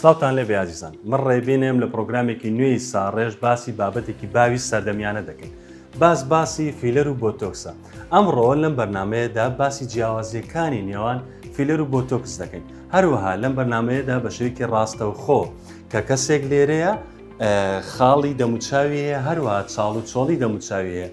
سڵاوتان لێبێ ئازیزان من ڕێبینێم لە پرۆگرامێکی نوێی ساڕێژ باسی بابەتێکی باوی سەردەمیانە دەکەین باس باسی فیلەر و بۆتۆکسە ئەمڕۆ لەم بەرنمەیەدا باسی جیاوازیەکانی نێوان فیلەر و بۆتۆکس دەکەین هەروەها لەم بەرنمەیەدا بە شێوکی ڕاستەوخۆ کە کەسێک لێرەیە خاڵی دەموچاویە هەروە چاڵ و چۆڵی دەموچاویە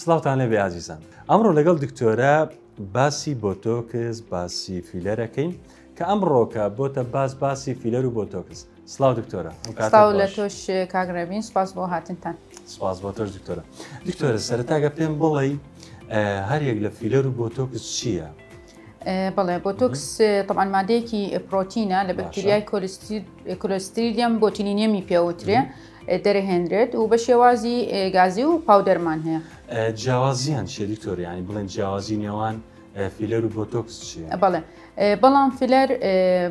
سڵاوتان لێ بێ ئازیزان ئەمڕۆ لەگەڵ دکتۆرە باسی بۆتۆکس باسی فیلەرەکەین کە ئەم ڕۆکە بۆتە باس باسی فیلەر و بۆتۆکس سلااو دکتۆرە لە تۆش کاگرێبین سپاس بۆ هاتنتان سپاس بۆ تۆش دکتۆرە دکتۆرە سەرتاگە پێم بڵێ هەریەک لە فیلەر و بۆتۆکس چییە؟ بڵێ بۆتۆکس طبعا مادەیەکی پرۆتینە لە بەکتریای کۆلستریدیەم بۆتینینیەمی پێوترێ دەرهێنرێت و بە شێوازی گازی و پاودەرمان هەیە. جیاوازیان چیە دکتۆر یانی بڵێن جیاوازی نێوان فیلەر و بۆتۆکس چیە؟ بەڵێ بەڵام فیلەر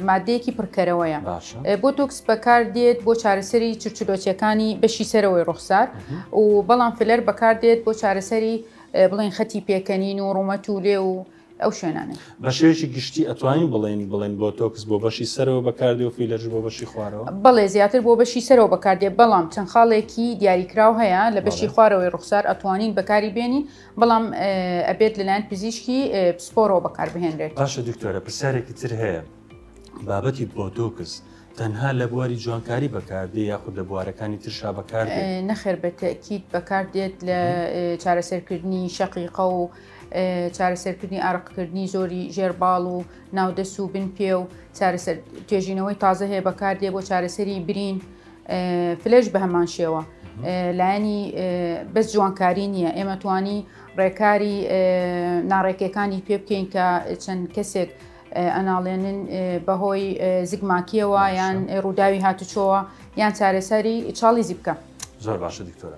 مادەیەکی پڕکەرەوەیە بۆتۆکس بەکاردێت بۆ چارەسەری چرچلۆچیەکانی بەشی سەرەوەی ڕوخسار و بەڵام فیلەر بەکاردێت بۆ چارەسەری بڵێن خەتی پێکەنین و ڕوومەت و لێ و ئەو شوێنانەی. بە شێوەیەکی گشتی ئەتوانین بڵێین بڵێن بۆتۆکس بۆ بەشی سەرەوە بەکاردێ و فیلەرش بۆ بەشی خوارەوە؟ بەڵێ زیاتر بۆ بەشی سەرەوە بەکاردێ بەڵام چەند خاڵێکی دیاریکراو هەیە لە بەشی خوارەوەی ڕوخسار ئەتوانین بەکاری بێنین بەڵام ئەبێت لەلایەن پزیشکی پسپۆرەوە بەکار بهێنرێت. باشە دکتۆرە پرسیارێکی تر هەیە بابەتی بۆتۆکس تەنها لە بواری جوانکاری بەکاردێ یاخود لە بوارەکانی ترشا بەکار نەخێر بە تەکییت بەکاردێت لە چارەسەرکردنی شەقیقە و چارەسەرکردنی ئارەقکردنی زۆری ژێرباڵ و ناودەست و بن پێ و چارەسەر توێژینەوەی تازە هەیە بەکار دێ بۆ چارەسەری برین فلش بە هەمان شێوە لایەنی بەس جوانکاری نییە ئێمە توانی ڕێکاری ناڕێکەکانی پێ بکەین کە چەند کەسێک ئەناڵێنن بەهۆی زگماکیەوە یان ڕووداوی هاتوچۆوە یان چارەسەری چاڵی زیبکە زۆر باشە دکتۆرە.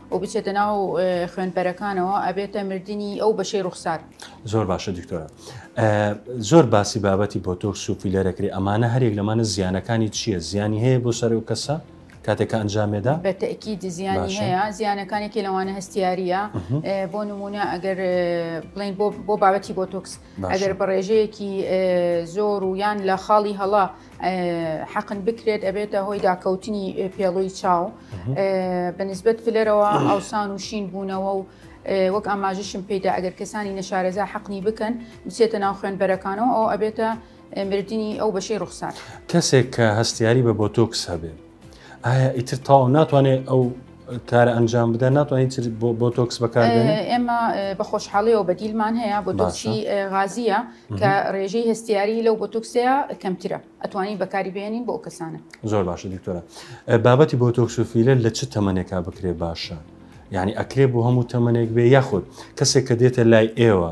و بچێتە ناو خوێنپەرەکانەوە ئەبێتە مردنی ئەو بەشەی ڕوخسار. زۆر باشە دکتۆرە زۆر باسی بابەتی بۆتۆکس و فیلەرەکری ئەمانە هەرێک لەمانە زیانەکانی چییە زیانی هەیە بۆ سەر و کەسە کاتێکە ئەنجامێدا بە تەکی دزیانی هەیە زیانەکانێکی لەوانە هەستیاریە بۆ نمونە ئەگەر بڵین بۆ بابەتی بۆتۆکس ئەگەر بە ڕێژەیەکی زۆر و یان لە خاڵی هەڵا حەقن بکرێت ئەبێتە هۆی داکەوتنی پێڵووی چاو بە نسبەت پلەرەوە ئاوسان و شین بوونەوە و وەک ئاماژشم پیدا ئەگەر کەسانی نەشارەزا حەقنی بکەن بچێتە ناو خوێنبەرەکانەوە ئەو ئەبێتە مردنی ئەو بەشەی ڕوخسار کەسێک کە هەستیاری بە بۆتۆکس هەبێت ئایا ئیتر تاو ناتوانێت ئەو کارە ئەنجام بدە ناتوانین بۆ تۆکس بەکار ئێمە بە خۆشحاڵیەوە بەدیلمان هەیە بۆ دۆچی غازیە کە ڕێژەی هەستیاری لەو بۆ تۆکسەیە کەمترە ئەتوانین بەکاری بێنین بۆ کەسانە زۆر باشە دکتۆرە بابەتی بۆ تۆکسۆفیلە لە چ تەمەنێکا بکرێ باشە یعنی ئەکرێ بۆ هەموو تەمەنێک بێ یاخود کەسێک کە دێتە لای ئێوە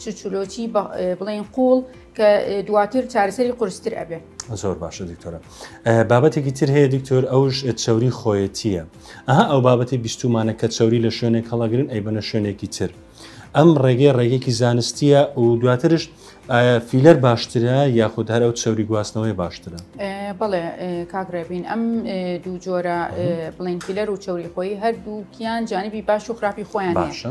چرچولۆچی بڵێن قوڵ کە دواتر چارەسەری قورستر ئەبێ زۆر باشە دکتۆرە بابەتێکی تر هەیە دکتۆر ئەوش چوری خۆیەتیە ئەها ئەو بابەتی بیستومانە کە چوری لە شوێنێک هەڵەگرن ئەی بەە شوێنێکی تر ئەم ڕێگەی ڕێگەێکی زانستیە و دواترش فیلەر باشترە یاخود هەر ئەو چوری گواستنەوەی باشترە بڵێ کاگرێبین ئەم دوو جۆرە بڵین فیلەر و چوری خۆی هەردووکیان جانبی باش و خراپی خۆیان باشە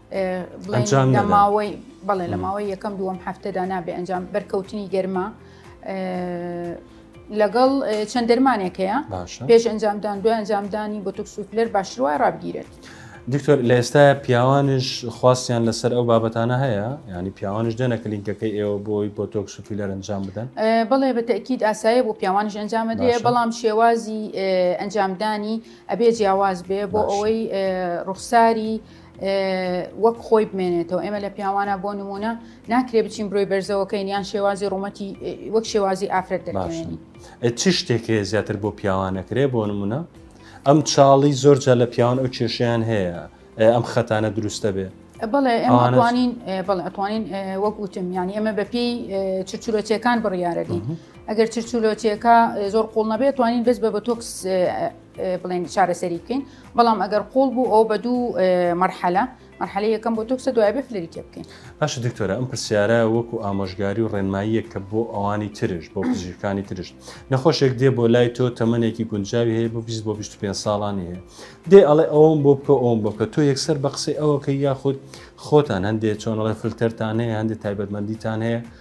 ئەنجام لە ماوەی بەڵێ لە ماوەی یەکەم دووەم هەفتەدا نابێ ئەنجام بەرکەوتنی گەرما لەگەڵ چەند دەرمانێک هەیە پێش ئەنجامدان دوای ئەنجامدانی بۆ تۆکسوفلەر باشتروای ڕابگیرێت. دکتۆر لە ئێستا پیاوانش خواستیان لەسەر ئەو بابەتانە هەیە ینی پیاوانش دێنە کلینکەکەی ئێوە بۆی بۆ تۆکسوفیلەر ئەنجام بدەن بڵێ بە تەکیید ئاسایە بۆ پیاوانش ئەنجامە دێ بەڵام شێوازی ئەنجامدانی ئەبێ جیاواز بێ بۆ ئەوەی ڕوخساری وەک خۆی بمێنێتەوە ئێمە لە پیاوانە بۆ نمونە ناکرێ بچین برۆی بەرزەوەکەین یان شێوازی ڕوومەتی وەک شێوازی ئافرەت دەباشنی چ شتێکێ زیاتر بۆ پیاوانەکرێ بۆ نمونە ئەم چاڵی زۆرجە لە پیاوان ئەو کێشیان هەیە ئەم خەتانە دروستە بێ بڵێ ئەمانین بڵێ ئەتوانین وەک وتم یانی ئەمە بەپی چچورەچەکان بڕیارەکەین ئەگەر چچولۆچیەکە زۆر قوڵ نەبێت توانین بەس بە بە تۆکس بڵێن چارەسەری بکەین بەڵام ئەگەر قۆڵ بوو ئەو بە دوو مەرحەلە مەرحەلە یەکەم بۆ تۆکسە دوای بێ فلری تێ بکەین باش دکتۆرە ئەم پرسیارە وەکو ئامۆژگاری و ڕێنماییە کە بۆ ئەوانی ترش بۆ پزیشکانی ترش نەخۆشێک دێ بۆ لای تۆ تەمەێکی گونجاوی هەیە بۆ 20 بۆ 25 ساڵانی هەیە دێ ئەڵێ ئەوم بۆ بکە ئەوم بکە تۆ یەکسەر بە قسەی ئەوەکە یاخود خۆتان هەندێک چۆنڵێ فلتەرتان هەیە هەندێک تایبەتمەندیتان هەیە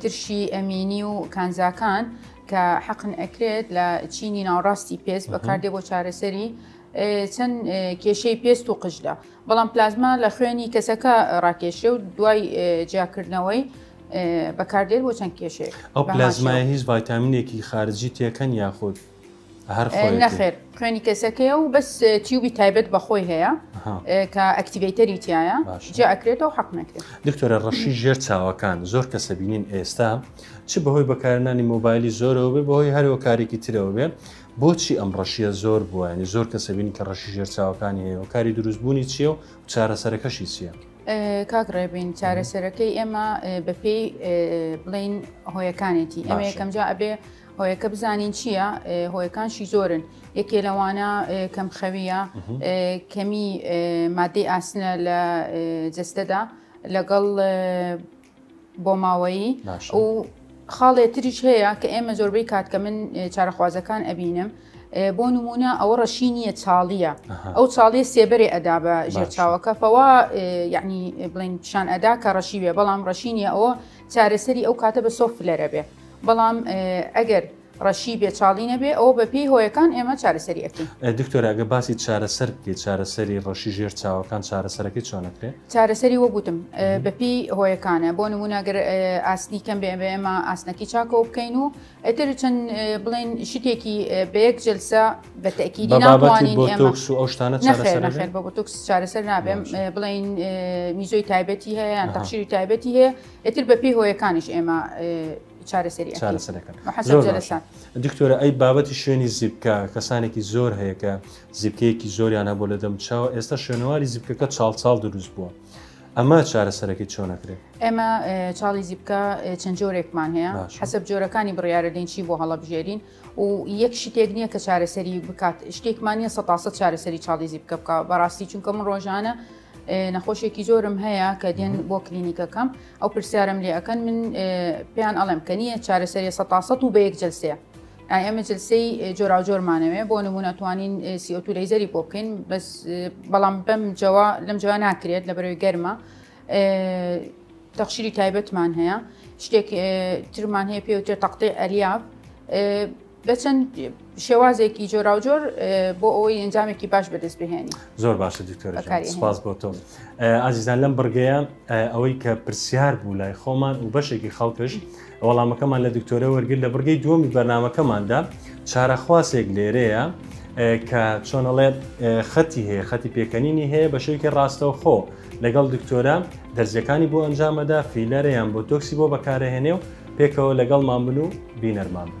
ترشی ئەمینی و کانزاکان کە حەقن ئەکرێت لە چینی ناوڕاستی پێست بەکاردێ بۆ چارەسەری چەند کێشەی پێست و قژدا بەڵام پلازما لە خوێنی کەسەکە ڕاکێشێ و دوای جیاکردنەوەی بەکاردێت بۆ چەند کێشێک ئەو پلازمای هیچ ڤایتامینێکی خارجی تێکەن یاخود نەخێر خوێنی کەسەکەیە و بەس تیوبی تایبەت بەخۆی هەیە کە ئەکتیڤیتەری تایە جا ئەکرێتەوە حەق نەکرێت دکتۆرە ڕەشی ژێر چاوەکان زۆر کەسە بینین ئێستا چ بەهۆی بەکارنانی مۆبایلی زۆرەوە بێ بەهۆی هەرەوە کارێکی ترەوە بێ بۆچی ئەم ڕەشیە زۆر بووانی زۆر کەسە بینین کە ڕەشی ژێر چاوەکانی هەیە و کاری دروستبوونی چیە و چارەسەرەکەشی چیە؟ کاک ڕێبین چارەسەرەکەی ئێمە بەپێی بڵین هۆیەکانێتی ئەمە یەکەمجا ئەبێ هۆیەکە بزانین چییە هۆیەکانشی زۆرن یەکێ لەوانە کەم خەویە کەمی مادەی ئاسنە لە جستەدا لەگەڵ بۆ ماوەیی و خاڵێ تریش هەیە کە ئێمە زۆربەی کات کە من چارەخوازەکان ئەبینم بۆ نمونە ئەوە ڕەشی نییە چاڵیە ئەو چاڵیە سێبەرێ ئەدا بە ژێرچاوەکە فەوا یعنی بڵین پیشان ئەدا کە ڕەشی بێ بەڵام ڕەشی نیە ئەوە چارەسەری ئەو کاتە بە سۆف فلەرە بێ بەڵام ئەگەر ڕەشی بێ چاڵی نەبێ ئەوە بە پێی هۆیەکان ئێمە چارەسەری ئەکەین دکتۆراگە باسی چارەسەر بکەیت چارەسەری ڕەشی ژێر چاوەکان چارەسەرەکەی چۆنەکرێت چارەسەری وەگوتم بەپی هۆیەکانە بۆ نموناگەر ئاسنی کەم بێ بە ئێمە ئاسنەکی چاکەوە بکەین و ئیتر چەند بڵێن شتێکی بە یەک جلسە بە تەکیدی ناوانین ئەو شتانە نەخێر بە بۆتۆکس چارەسەر نابێم بڵین میزۆی تایبەتی هەیە یان تەخشیری تایبەتی هەیە ئیتر بە پێی هۆیەکانیش ئێمە چارەسەری چارەسەرەکەن دکتۆرە ئەی بابەتی شوێنی زیبکە کەسانێکی زۆر هەیەکە زیبکەیەکی زۆریان هەبوو لە دەم چاوە ئێستا شوێنەواری زیبکەکە چاڵ چاڵ دروست بووە ئەمە چارەسەرەکەی چۆن نەکرێت ئێمە چاڵی زیبکە چەند جۆرێکمان هەیە حەسب جۆرەکانی بڕیاەدەین چی بۆ هەڵەبژێرین و یەک شتێک نییە کە چارەسەری بکات شتێکمان نیە سەتاسە چارەسەری چاڵی زیبکە بکە بەڕاستی چونکە من ڕۆژانە نەخۆشێکی زۆرم هەیە کە دێن بۆ کلینیکەکەم ئەو پرسیارم لێ ئەەکەن من پێیان ئەڵێم کە نییە چارەسەری سە و بە یەک جلسەیە ئێمە جلسەی جۆراوجۆرمانەوێ بۆ نمونە توانین سیۆتو لەیزەری بۆ بکەین بەس بەڵام بەم جەوە لەم جوە ناکرێت لە بەرەوەی گەرمە تەخشیری تایبەتمان هەیە شتێک ترمان هەیە پێوتێ تەقتی ئەلیاب بە چەند شێوازێکی جۆراوجۆر بۆ ئەوەی ئەنجامێکی باش بەدەست بهێنی زۆر باشە دکتۆر سپاس بۆ تۆ ئازیزان لەم بڕگەیە ئەوەی کە پرسیار بوو لای خۆمان و بەشێکی خەڵکش وەڵامەکەمان لە دکتۆرە وەرگر لە بڕگەی دووەمی بەرنمەکەماندا چارەخواسێک لێرەیە کە چۆنەڵێ خەتی هەیە خەتی پێکەنینی هەیە بە شوێکی ڕاستەو خۆ لەگەڵ دکتۆرە دەرزیەکانی بۆ ئەنجامەدا فیلەرەیان بۆ تۆکسی بۆ بەکارەهێنێ و پێکەوە لەگەڵمان بن و بینەرمان بن.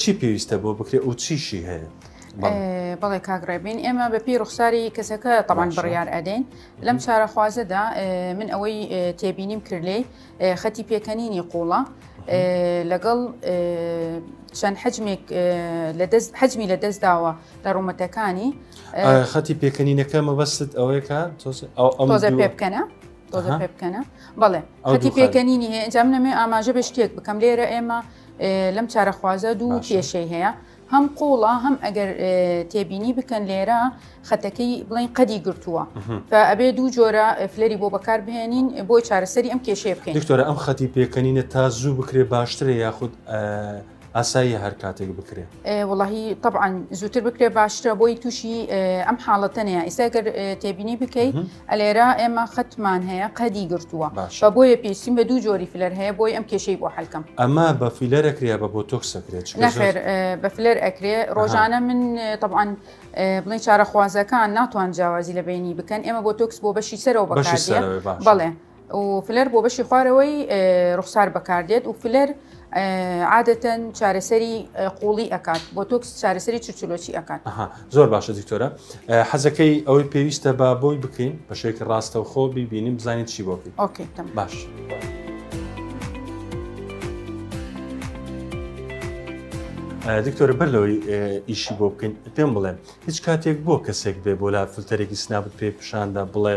چی پێویستە بۆ بکرێ و چیشی هەیە؟ بەڵێ کاک ڕێبین ئێمە بەپی ڕوخساری کەسەکە تەمان بڕیار ئەدەین لەم چارەخوازەدا من ئەوەی تێبینیم کرد لێ خەتی پێکەنینی قوڵە لەگەڵ چەند حجمێک لەدەست حجمی لە دەستداوە لە ڕوومەتەکانی خەتی پێکەنینەکە مەبەستت ئەوەیەکە تۆزە پێ بکەنە تۆزە پێ بکەنە بەڵێ خەتی پێکەنینی هەیە ئەنجام نەمێ ئاماژە بە شتێک بکەم لێرە ئێمە لەم چارەخوازە دوو کێشەی هەیە هەم قوڵە هەم ئەگەر تێبینی بکەن لێرە خەتەکەی بڵین قەدی گرتووە ئەبێ دوو جۆرە فلەری بۆ بەکار بهێنین بۆی چارەسەری ئەم کێشەیە بکەین دکتۆرە ئەم خەتی پێکەنینە تا زوو بکرێ باشترە یاخود ئاسایی هەر کاتێک بکرێ وڵی طبعاان زووتر بکرێ باشترە بۆی تووشی ئەم حاڵەتەنەیە ئیستا گەر تێبینی بکەیت ئەلێرە ئێمە خەتمان هەیە قەدی گرتووە باشە. بە بۆیە پێویستیم بە دوو جۆری فلەر هەیە بۆی ئەم کێشەی بۆ حەل کەم. ئەمە بە فیلەر ئەکرێ یا بە بۆتۆکس ئەکرێ چونکە زۆر نەخێر ئێ، بە فلەر ئەکرێ ڕۆژانە من ئێ، تەبعەن ئێ، بڵێین چارەخوازەکان ناتوان جیاوازی لە بەینی بکەن ئێمە بۆتۆکس بۆ بەشی سەرەوە بەشی بەکاردێ سەرەوەی باشە. بەڵێ. و فلەر بۆ بەشی خوارەوەی ڕوخسار بەکاردێت و فلەر عادەتەن چارەسەری قوڵی ئەکات بۆ تۆکس چارەسەری چچلۆچی ئەکات زۆر باشە دکتۆرە حەزەکەی ئەوەی پێویستە با بۆی بکەین بەشێکی ڕاستە و خۆ بیبینیم بزانین چی بۆ بکەین ئۆکەی باش. دکتۆرە بەر لەوەی ئیشی بۆ بکەین پێم بڵێن هیچ کاتێک بۆ کەسێک بێ بۆ لا فلتەرێکی سنابت پێ پیشاندا بڵێ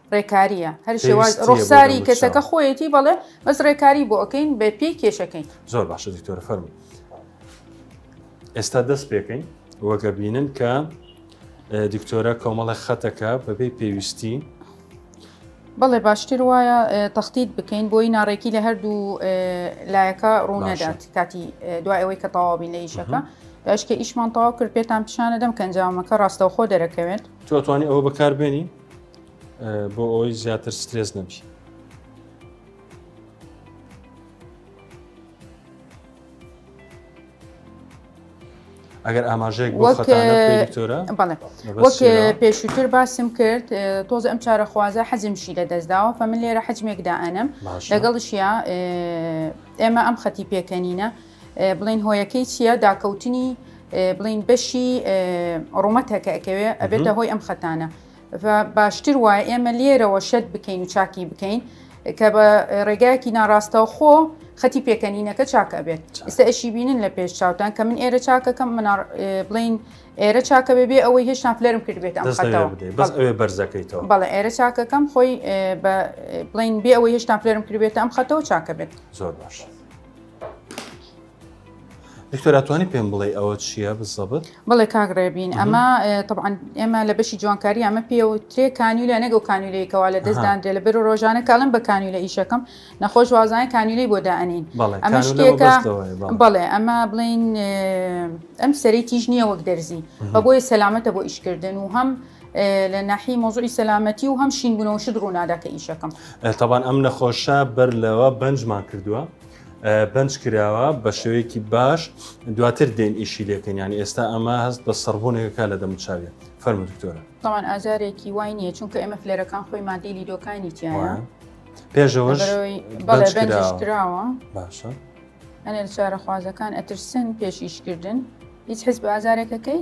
ڕێکاریە هەر شێواز ڕوخساری کەسەکە خۆیەتی بەڵێ بەس ڕێکاری بۆ ئەەکەین بە پێی کێشەکەین زۆر باشە دیکتۆرە فەرم ئێستا دەست پێکەین وەگە بینن کە دیکتۆرە کۆمەڵە خەتەکە بەبێ پێویستی بەڵێ باشتر وایە تەختیت بکەین بۆی ناڕێکی لە هەردوو لایەکە ڕوونەدات کاتی دوای ئەوەی کە تەواوبین لە ئیشەکە داشکە ئیشمان تەواو کرد پێتان پیشانە دەم کەنجامەکە ڕاستەوخۆ دەرەکەوێت توتوانی ئەوە بەکاربێنی بۆ ئەوەی زیاتر سترێس نەبی ئەگەر ئاماژەیەک وەک پێشووتر باسم کرد تۆز ئەم چارەخوازە حەزمشی لە دەستداوە فە من لێرە حەجمێکدا ئەنم لەگەڵشیا ئێمە ئەم خەتی پێکەنینە بڵین هۆیەکەی چییە داکەوتنی بڵین بەشی ڕوومەتەکە ئەکەوێ ئەبێتە هۆی ئەم خەتانە و باشتر وایە ئێمە لێرەوە شەد بکەین و چاکی بکەین کە بە ڕێگایەکی ناڕاستەوە خۆ خەتی پێکەنینەکە چاک ئەبێت ئستا ئەشی بینن لە پێش چاوتان کە من ئێرە چاکەکەم من بڵین ئێرە چاکە بێ بێ ئەوەی هێشتان فلەرم کردبێت ئەمەوە بەرزەکەیتەوە بەڵێ ئێرە چاکەکەم خۆی بڵین بێ ئەوەی هێشتان فلەرم کردبێت ئەم خەتەوە چاکە بێت زۆر باش. دکتۆر ئەتوانی پێم بڵێ ئەوە چییە بزەبت بڵێ کاک ڕێبین ئەمە طبعاان ئێمە لە بەشی جوانکاری ئەمە پێوە ترێ کانیولە نەگە و کانیولەیەکەوە لە دەستدانرێ لە بەر ڕۆژانە کاڵم بە کانیولە ئیشەکەم نەخۆش وازانە کانیولەی بۆ دانین ئەمە شتێکە بڵێ ئەمە بڵین ئەم سەری تیژ نییە وەک دەرزی بە بۆی سەلامەتە بۆ ئیشکردن و هەم لە ناحی مۆزوعی سەلامەتی و هەم شینبوونەوە شت ڕووناداکە ئیشەکەم تاوان ئەم نەخۆشە بەر لەوە بەنجمان کردووە بەنج کراوە بە شێوەیەکی باش دواتر دێن ئیشی لێکەن یانی ئێستا ئەمە هەست بە سەربوونێکەکە لە دەموچاویە فەرمە دکتۆرە تاوان ئازارێکی وای نییە چونکە ئێمە فلێرەکان خۆی مادەی لیدۆکانی تیایە پێشەوەش کراوە باشە ئەنێ چارەخوازەکان ئەترسن پێشیشکردن هیچ حز بە ئازارێکەکەی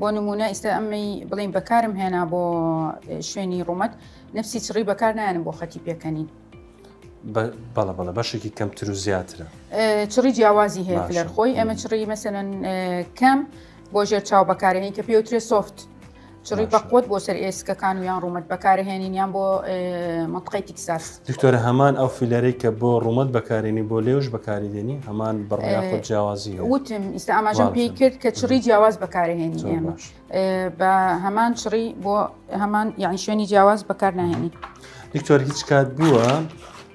بۆ نموونە ئیستا ئەمەی بڵیم بەکارم هێنا بۆ شوێنی ڕوومەت نفسی چڕی بەکار نایەنم بۆ خەتی پێکەنین بەڵە بەڵە بەشێکی کەمتر و زیاترە چڕی جیاوازی هەیە لەر خۆی ئەمە چڕی مەسەن کەم بۆ ژێر چاو بەکارهێنی کە پێوترێ سوفت چڕی بەقوت بۆ سەر ئێسکەکان و یان ڕوومەت بەکارهێنین یان بۆ مەتقی تیکساس. دکتۆرە هەمان ئەو فیلەرەی کە بۆ ڕوومەت بەکارێنی بۆ لێوش بەکاری دێنی هەمان بڕ یاخود جیاوازی هەیە؟ وتم ئیستا ئاماژەم پێی کرد کە چڕی جیاواز بەکارهێنی زۆر ئێمە باش ئێ، بە هەمان چڕی بۆ هەمان یعنی شوێنی جیاواز بەکار ناهێنی دکتۆر هیچ کات بووە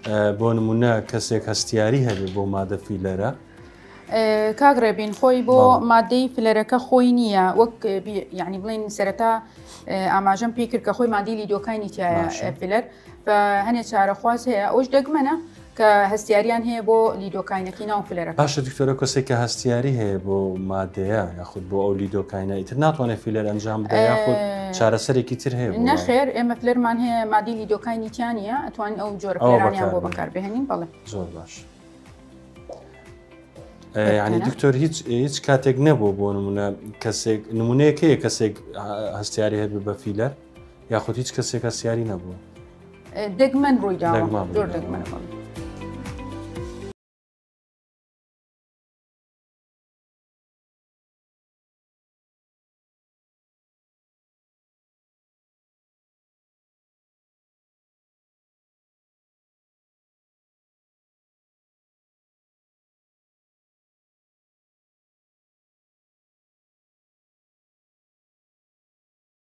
ئە، بۆ نمونە کەسێک هەستیاری هەبێ بۆ مادە فیلەرە؟ ئێ، کاک ڕێبین خۆی بۆ بەڵێ. مادەی فلەرەکە خۆی نییە وەک بی یعنی بڵێن سەرەتا ئێ، ئاماژەم پێی کرد کە خۆی مادەی لیدۆکاینی تایە باشە. ئێ، فلەر بە هەنێ چارەخواز هەیە ئەوش دەگمەنە کە هەستیاریان هەیە بۆ لیدۆکاینەکی ناو فلەرە باشە دکتۆرە کەسێک کە هەستیاری هەیە بۆ مادەیە یاخود بۆ ئەو لیدۆکاینە ئیتر ناتوانێت فیلەر ئەنجام بدە یاخود چارەسەرێکی تر هەیە نەخێر ئێمە فلەرمان هەیە مادی لیدۆکاینی تیانە ئەتوان ئەو جۆر بۆ بەکار بهێنین بەڵێ زۆر باش. ینی دکتۆر هیچ هیچ کاتێک نەبوو بۆ نمونە کەسێک نمونەیەکەیە کەسێک هەستیاری هەبێ بە فیلەر یاخود هیچ کەسێک هەستیاری نەبوو دەگمەن ڕووی دا زۆر دەگمەن.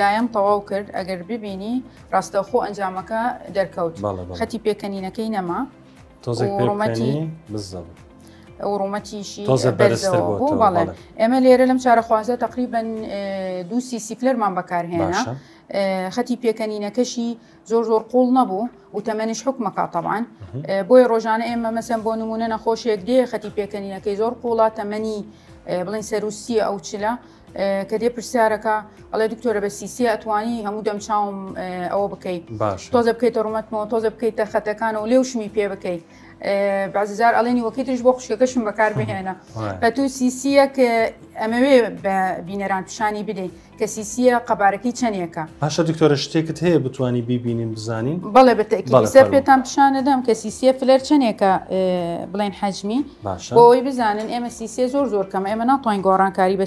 لایەم تەواو کرد ئەگەر ببینی ڕاستەوخۆ ئەنجامەکە دەرکەوت خەتی پێکەنینەکەی نەما تۆزێکڕومەتی بزەم. وڕومەتیشی ئێمە لێرە لەم چارەخوازە تقریبن دووسی سیپلەرمان بەکارهێنا خەتی پێکەنینەکەشی زۆر زۆر قوڵ نەبوو و تەمەنیش حکومەکە تەبان بۆیە ڕۆژانە ئێمە مەسەن بۆ نمونە نەخۆشیێک دێ خەتی پێکەنینەکەی زۆر قوڵە تەمەنی بڵین سەروسیە ئەو چلە کە دێ پرسیارەکە ئەڵێ دکتۆرە بە سیسیە ئەتوانی هەموو دەم چاوم ئەوە بکەیت باش تۆزە بکەیتە ڕومەتمەوە تۆزە بکەیتە خەتەکان و لێوشمی پێ بکەیت بەزار ئەڵێنی وەکی ترش بۆ خوشکەکەشم بەکار بهێنە بە تو سیسیەک ئەمەوێ بە بینەران پیشانی بدەیت کەسیسیە قەبارەکەی چەنێکە؟ باشە دکتۆرە شتێکت هەیە بتوانی بیبینین بزانین؟ بەڵێ بەتەئکید بەڵێ لەسەر فەرموو پێتان پیشان ئەدەم کە سیسیە فلەر چەنێکە ئێ بڵێن حەجمی باشە بۆ ئەوەی بزانن ئێمە سیسیە زۆر زۆر کەمە ئێمە ناتوانین گۆڕانکاری بە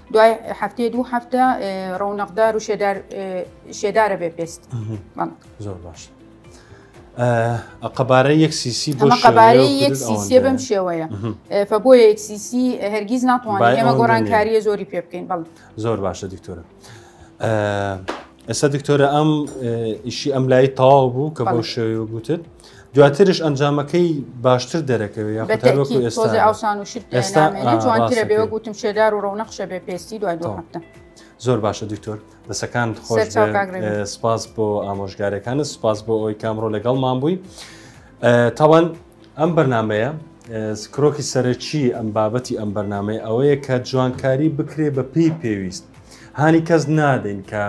دوای هەفتێ دوو هەفتە ڕونەقدار و شێدارە بێ پێست زۆر باش. قەبارە یەک سیسی بۆ قەبارەی یەک سیسیە بەم شێوەیە فە بۆ یەک سیسی هەرگیز ناتوانین ئێمە گۆڕانکاریە زۆری پێ بکەین بەڵ زۆر باشە دکتۆرە. ئێستا دکتۆرە ئەم ئیشی ئەم لای تەواو بوو کە بۆ شێوی گوتت دواترش ئەنجامەکەی باشتر دەرەکەوێت ئەوسان و شتوانترە بێ گوتم شێدار و ڕەونەخشە بێ پێستی دوای دو هەفتە زۆر باشە دکتۆر دەسەکان خۆش سپاس بۆ ئامۆژگارەکانە سپاس بۆ ئەوی کامڕۆ لەگەڵمان بووی تاوان ئەم بەرنامەیە کرۆکی سەرەکی ئەم بابەتی ئەم بەرنمەی ئەوەیە کە جوانکاری بکرێ بە پێی پێویست هانی کەس نادەین کە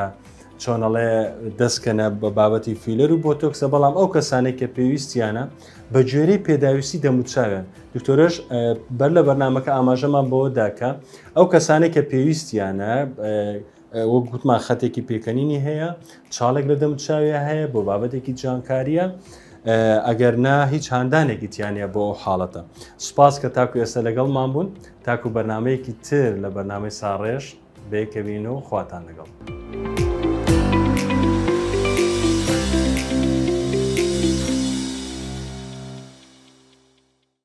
چۆنەڵێ دەستکەنە بە بابەتی فیلەر و بۆتۆکسە بەڵام ئەو کەسانێک کە پێویستیانە بە گوێرەی پێداویستی دەموچاوێن دکتۆرش بەر لە بەرنمەکە ئاماژەمان بەوە داکە ئەو کەسانێک کە پێویستیانە وەک گوتمان خەتێکی پێکەنینی هەیە، چاڵێک لە دەموچاویا هەیە بۆ بابەتێکی جوانکارییە، ئەگەر نا هیچ هاندانێکی تیانە بۆ ئەو حاڵەتە. سوپاس کە تاکو ئێستا لەگەڵمان بوون، تاکو بەرنمەیەکی تر لە بەرنمەی ساڕێژ بەیەکەوین و خواتان لەگەڵ.